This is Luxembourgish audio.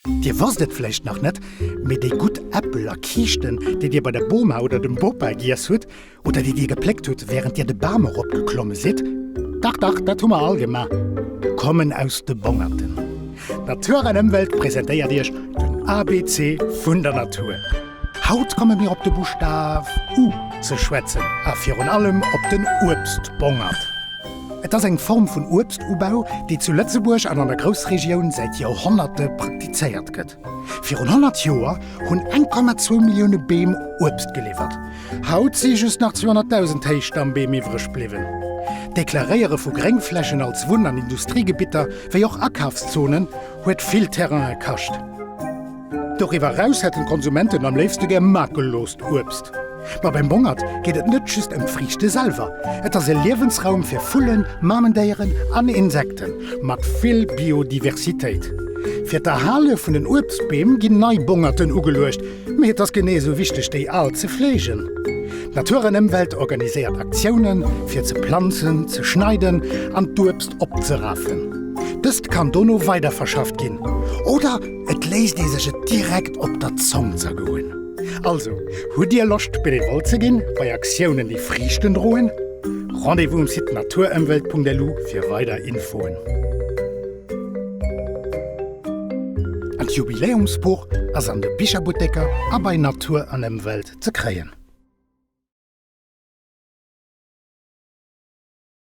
Dir wosst et vläicht nach net, mee déi gutt Äppel a Kiischten, déi Dir bei der Boma oder dem Bopa giess hutt, oder déi Dir gepléckt hutt, wärend Dir de Bam eropgeklomme sidd, dach, dach, dat hu mer all gemaach, kommen aus de Bongerten. Natur an Ëmwelt presentéiert Iech den ABC vun der Natur. Haut komme mir op de Buschtaf U ze schwätzen a virun allem op den Uebstbongert. Et ass eng Form vun Uebstubau, déi zu Lëtzebuerg an an der Groussregioun säit Joerhonnerte praktizéiert gëtt. Virun 100 Joer hunn 1,2 Millioune Beem Uebst geliwwert. Haut si just nach 200.000 Héichstammbeem iwwreg bliwwen. D'Deklaréiere vu Gréngflächen als Wunn an Industriegebitter, wéi och Akafszonen, huet vill Terraine kascht. Doriwwer eraus hätten d'Konsumenten am léifste gär makellost Uebst. Ma beim Bongert geet et net just ëm d'Friichte selwer. Et ass e Liewensraum fir Vullen, Mamendéieren an Insekten, mat vill Biodiversitéit. Fir d'Erhale vun den Uebstbeem ginn nei Bongerten ugeluecht, mee et ass genee esou wichteg, déi al ze fleegen. D'Natur an Ëmwelt organiséiert Aktiounen, fir ze planzen, ze schneiden an d'Uebst opzerafen. Dëst kann dono weiderverschafft ginn oder. Et léisst ee sech et direkt op der Zong zergoen. Also, hutt Dir Loscht Benevole ze ginn bei Aktiounen déi Friichten droen? Rendez-vous um Site naturemwelt.lu fir weider Infoen. D' Jubiläumsbuch ass an de Bicherbutteker a bei Natur an Emwelt ze kréien.